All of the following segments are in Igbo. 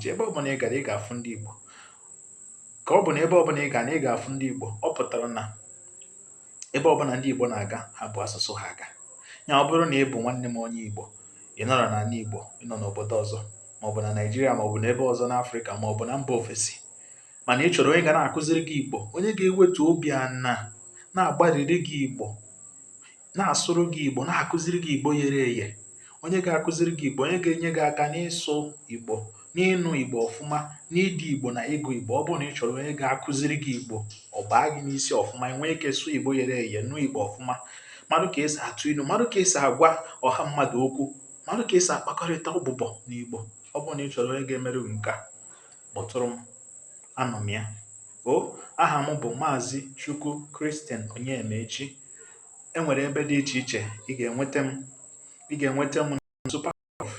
ji ebe ọbụla ị gara ị ga-afụ ndị Igbo ka ọ bụ na ebe ọbụla ị ga na ị ga-afụ ndị Igbo ọ pụtara na ebe ọbụla ndị Igbo na-aga ha bu asụsụ ha aga ya ọ bụrụ na ị bụ nwanne m onye Igbo ị nọrọ n'ala Igbo ị nọ n'obodo ọzọ maọbụ na Naịjirịa maọbụ n'ebe ọzọ n'Afrịka maọbụ na mba ofesi mana ị chọrọ onye ga na-akụziri gị Igbo onye ga-ewetu obi ana na-agbariri gị Igbo na-asụrụ gị igbo na-akụziri gị igbo yere eye onye ga-akụziri gị igbo onye ga-enye gị aka n'ịsụ igbo n'ịnụ igbo ọfụma n'ide igbo na ịgụ igbo ọ bụrụ na ị chọrọ onye ga-akụziri gị igbo ọ baa gị n'isi ọfụma i nwee ike sụọ igbo yere eye nụ igbo ọfụma marụ ka esi atụ ilu marụ ka esi agwa ọha mmadụ okwu marụ ka esi akpakọrịta ụbụbọ n'igbo ọ bụrụ na ị chọrọ onye ga-emere gị nke a kpọtụrụ m anọ m ya o aha m bụ maazị chukwu christian onyemaechi e nwere ebe dị iche iche ị ga-enweta m ị ga-enweta m na Superprof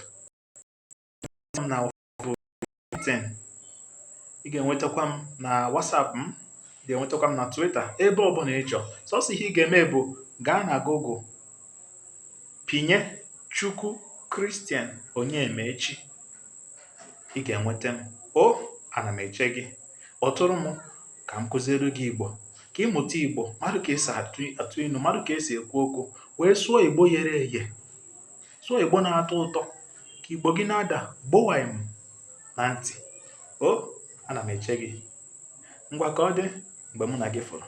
na LinkedIn ị ga-enwetakwa m na WhatsApp m ị ga-enwetakwa m na Twitter ebe ọ bụla ị chọọ sọsọ ihe ị ga-eme bụ gaa na Google pinye Chukwu Christian Onyemaechi ị ga-enweta m o ana m eche gị kpọtụrụ m ka m kụziere gị igbo ka ị mụta igbo marụ ka esi atụ ilu marụ ka esi ekwu okwu wee sụọ igbo yere eye sụọ igbo na-atọ ụtọ ka igbo gị na-ada gbowam na ntị o ana m eche gị ngwa ka ọ dị mgbe mụ na gị fụrụ